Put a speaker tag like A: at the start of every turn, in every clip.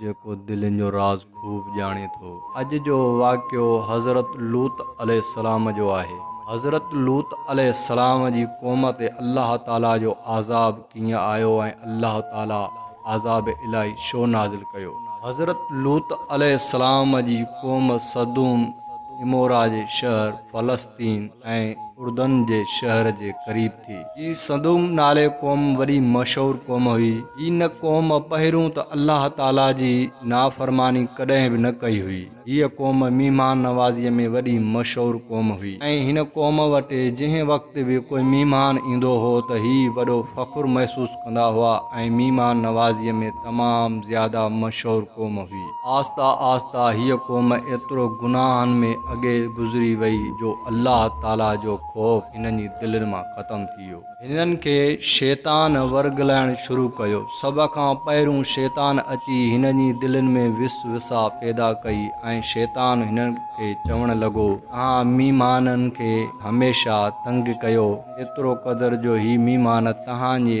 A: جيڪو دلين جو راز خوب ڄاڻي ٿو. اڄ جو واقعو حضرت لوط عليه السلام جو آهي. حضرت لوط عليه السلام جي قوم تي الله تعالي جو عذاب ڪيئن آيو ۽ الله تعالي عذاب الاهي ڇو نازل ڪيو؟ حضرت لوط عليه السلام جي قوم سدوم عمورا جي شهر فلسطين، ۽ اردن جي شهر جي قريب ٿي. هي سدوم نالي قوم وڏي مشهور قوم هئي. هن قوم پهريون ته الله تعاليٰ جي نافرماني ڪڏهن به نه ڪئي هئي. هيء قوم مهمان نوازيء ۾ وڏي مشهور قوم هئي ۽ هن قوم وٽ جنهن وقت به ڪوئي مهمان ايندو هو ته هي وڏو فخر محسوس ڪندا هئا ۽ مهمان نوازيء ۾ تمام زياده مشهور قوم هئي. آهسته آهسته هيء قوم ايترو گناهن ۾ اڳي گذري وئي جو الله تعاليٰ جو خوف هنن جي دلين مان ختم ٿي ويو. هنن کي شيطان ورغلائڻ شروع ڪيو. سڀ کان پهريون شيطان اچي هنن جي دلين ۾ وس وساء پيدا ڪئي ۽ شيطان هنن کي چوڻ لڳو، اوهان ميمانن کي هميشه تنگ ڪيو، ايترو قدر جو هي ميمان توهان جي.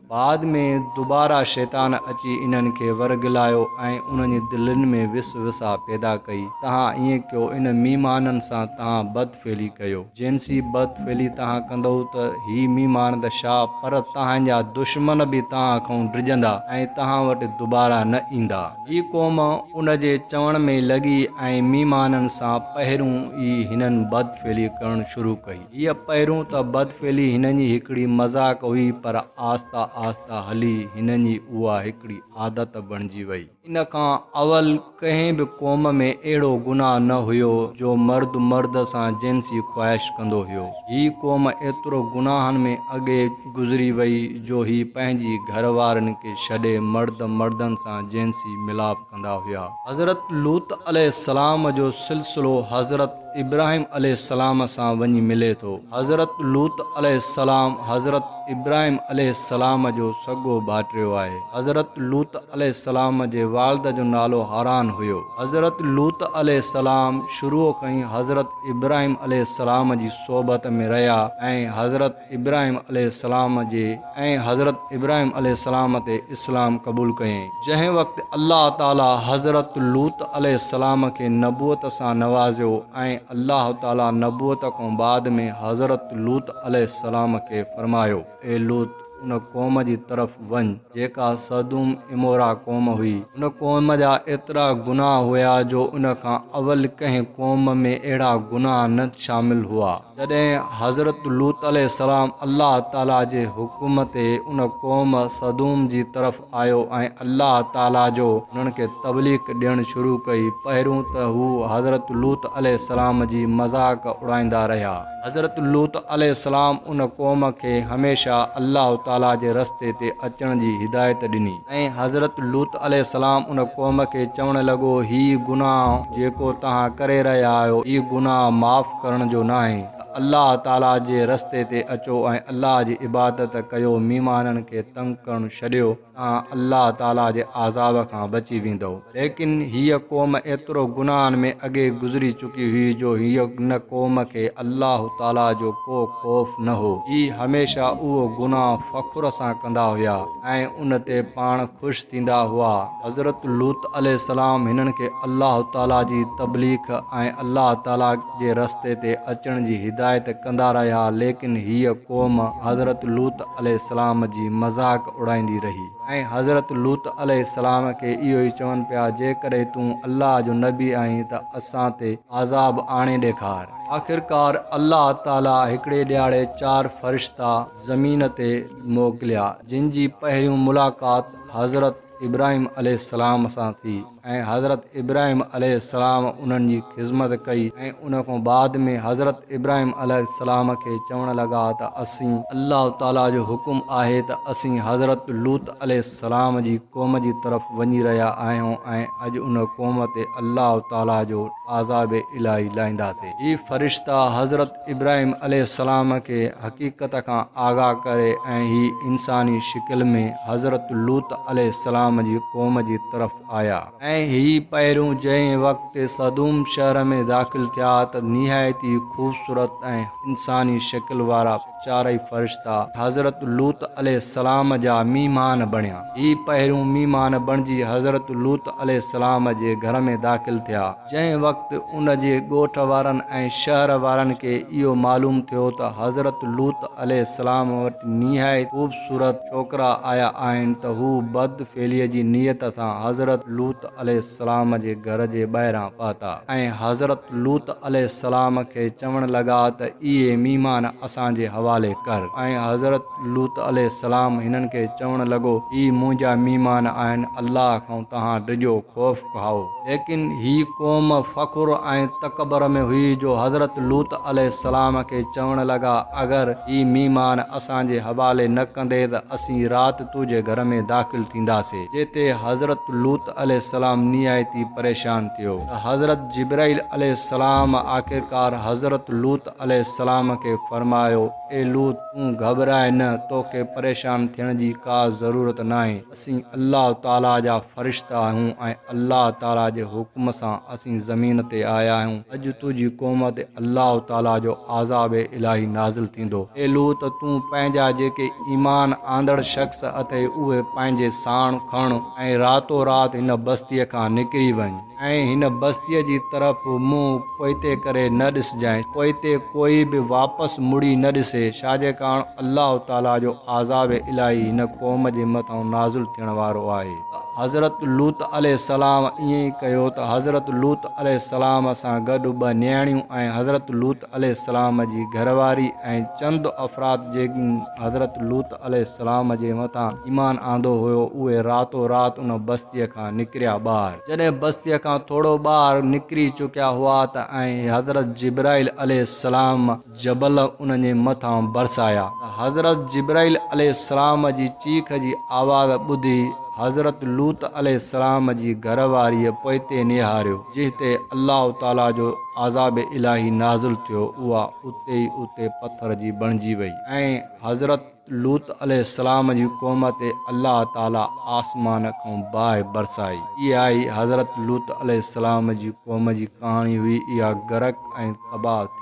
A: بعد ۾ دوباره شيطان اچي انهن کي ورغلايو ۽ انهن جي دلين ۾ وس وسا پيدا ڪئي. توهان ائين ڪيو، ان ميمانن سان توهان بد فعلي ڪيو. جنسي بد فعلي توهان ڪندؤ ته هي ميمان ته شا پر توهان جا دشمن به توهان کئون ڊڄندا ۽ توهان وٽ دوباره نه ايندا. هي قوم ان جي چوڻ ۾ لڳي ۽ ميمانن سان پهريون ئي هنن بد فعلي ڪرڻ شروع ڪئي. هيء پهريون ته بدفعلي هنن جي هڪڙي مذاق هئي، پر آهسته آهسته هلي هنن جي اها هڪڙي عادت بڻجي ويئي. ان کان اول ڪنهن به قوم ۾ اهڙو گناهه نه هيو، جو مرد مرد سان جنسي خواهش ڪندو هيو. هيء قوم ايترو گناهن ۾ اڳي گذري ويئي، جو هي پنهنجي گهر وارين کي ڇڏي مرد مردن سان جنسي ميلاپ ڪندا هيا. حضرت لوط عليه السلام جو سلسلو حضرت. ابراهيم عليه السلام سان وڃي ملي ٿو. حضرت لوط عليه السلام حضرت ابراهيم عليه السلام جو سڳو ڀائٽيو آهي. حضرت لوط عليه السلام جي والده جو نالو حاران هيو. حضرت لوط عليه السلام شروع کان ئي حضرت ابراهيم عليه السلام جي صحبت ۾ رهيا ۽ حضرت. ابراهيم عليه السلام جي ۽ حضرت ابراهيم عليه السلام تي اسلام قبول ڪيائين. جنهن وقت الله تعاليٰ حضرت لوط عليه السلام کي نبوت سان نوازيو ۽ الله تعاليٰ نبوت کان بعد ۾ حضرت لوط عليه السلام کي فرمايو، اي لوط! ان قوم جي طرف وڃ جيڪا سدوم عمورا قوم هئي. ان قوم جا ايترا گناهه هيا جو ان کان اول ڪنهن قوم ۾ اهڙا گناهه نه شامل هئا. جڏهن حضرت لوط عليه السلام الله تعالي جي حڪم تي ان قوم سدوم جي طرف آيو ۽ الله تعالي جو انهن کي تبليغ ڏيڻ شروع ڪئي، پهريون ته هو حضرت لوط عليه السلام جي مذاق اڙائيندا رهيا. حضرت لوط عليه السلام ان قوم کي هميشه الله تعالي جي رستي تي اچڻ جي هدايت ڏني. ۽ حضرت لوط عليه السلام ان قوم کي چوڻ لڳو، هي گناهه جيڪو توهان ڪري رهيا آهيو، هي گناهه معاف ڪرڻ جو ناهي، ته الله تعاليٰ جي رستي تي اچو ۽ الله جي عبادت ڪيو، ميمانن کي تنگ ڪرڻ ڇڏيو، توهان الله تعاليٰ جي عذاب کان بچي ويندؤ. ليڪن هيء قوم ايترو گناهن ۾ اڳي گذري چڪي هئي جو هيء ان قوم کي الله تعاليٰ جو ڪو خوف نه هو. هي هميشه اهو گناهه فخر سان ڪندا هيا ۽ ان تي پاڻ خوش ٿيندا هئا. حضرت لوط عليه السلام هنن کي الله تعاليٰ جي تبليخ ۽ الله تعاليٰ جي رستي تي اچڻ جي هدايت ڪندا رهيا ليڪن هيء قوم حضرت لوط عليه السلام جي مذاق اڙائيندي رهي. ۽ حضرت لوط عليه السلام کي اهو ئي چون پيا، جيڪڏهن تون الله جو نبي آهين ته اسان تي عذاب آڻي ڏيکار. آخرڪار الله تعاليٰ هڪڙي ڏهاڙي چار فرشتا زمين تي موڪليا، جن جي پهريون ملاقات حضرت ابراهيم عليه السلام سان ٿي. ۽ حضرت ابراهيم عليه السلام انهن جي خذمت ڪئي ۽ ان کان بعد ۾ حضرت ابراهيم عليه السلام کي چوڻ لڳا ته اسين الله تعالي جو حڪم آهي ته اسين حضرت لوط عليه السلام جي قوم جي طرف وڃي رهيا آهيون ۽ اڄ ان قوم تي الله تعالي جو عذاب الاهي لاهينداسين. هي فرشتا حضرت ابراهيم عليه السلام کي حقيقت کان آگاهه ڪري ۽ هي انساني شڪل ۾ حضرت لوط عليه السلام جي قوم جي طرف آيا. ۽ هي پهريون جنهن وقت صدوم شهر ۾ داخل ٿيا ته نهايت ئي خوبصورت ۽ انساني شڪل وارا چارئي فرشتا حضرت لوط عليه السلام جا ميهمان بڻيا. هي پهريون ميهمان بڻجي حضرت لوط عليه السلام جي گهر ۾ داخل ٿيا. جنهن وقت ان جي ڳوٺ وارن ۽ شهر وارن کي اهو معلوم ٿيو ته حضرت لوط عليه السلام وٽ نهايت خوبصورت ڇوڪرا آيا آهن ته هو بد فعليء جي نيت سان حضرت لوط عليه السلام جي گهر جي ٻاهران پهتا ۽ حضرت لوط عليه السلام کي چوڻ لڳا ته اهي ميهمان اسان جي حوالي ڪر ۽ حضرت لوط عليه السلام هنن کي چوڻ لڳو هي منهنجا ميهمان آهن الله کان توهان ڊڄو خوف کائو. ليڪن هي قوم فخر ۽ تڪبر ۾ هئي جو حضرت لوط عليه السلام کي چوڻ لڳا، اگر هي ميمان اسان جي حوالي نه ڪندي ته اسين رات تو جي گهر ۾ داخل ٿينداسين. جنهن تي حضرت لوط عليه السلام نهايتي پريشان ٿيو ته حضرت جبرائيل عليه السلام آخرڪار حضرت لوط عليه السلام کي فرمايو، اي لوط! تون گهٻرائي نه، توکي پريشان ٿيڻ جي ڪا ضرورت ناهي. اسين الله تعاليٰ جا فرشتا آهيون ۽ الله تعاليٰ جي حڪم سان اسين زمين تي آيا آهيون. اڄ تنهنجي قوم تي الله تعاليٰ جو عذاب الاهي نازل ٿيندو. اي لوط! تون پنهنجا جيڪي ايمان آندڙ شخص اٿئي اهي پنهنجي ساڻ کڻ ۽ راتو رات هن بستيء کان نڪري وڃ. ۽ هن بستيء جي طرف منهن پوئتي ڪري نه ڏسجانء، پوئتي ڪوئي به واپس مڙي نه ڏسي، ڇاجي ڪاڻ الله تعاليٰ جو عذاب الاهي هن قوم جي مٿان نازل ٿيڻ وارو آهي. ته حضرت لوط عليه السلام ائين ئي ڪيو ته حضرت لوط عليه السلام سان گڏ ٻه نياڻيون ۽ حضرت لوط. عليه السلام جي گهر واري ۽ چند افراد جن حضرت لوط عليه السلام جي مٿان ايمان آندو هيو اهي راتو رات ان بستيء کان نڪريا ٻاهر. جڏهن بستيء کان ٿورو ٻاهر نڪري چڪيا هئا ته ائين حضرت جبرائيل عليه السلام جبل انهن جي مٿان برسايا ته حضرت جبرائيل عليه السلام جي چيخ جي آواز ٻڌي حضرت لوط عليه السلام جي گهر واريء پوئتي نهاريو جنهن تي الله تعاليٰ جو عذاب الاهي نازل ٿيو اها اتي ئي اتي پٿر جي بڻجي وئي ۽ حضرت لوط عليه السلام جي قوم تي الله تعالي آسمان کان باهه برسائي اها ئي حضرت لوط عليه السلام جي قوم جي ڪهاڻي هئي اها غرق ۽ تباهه ٿي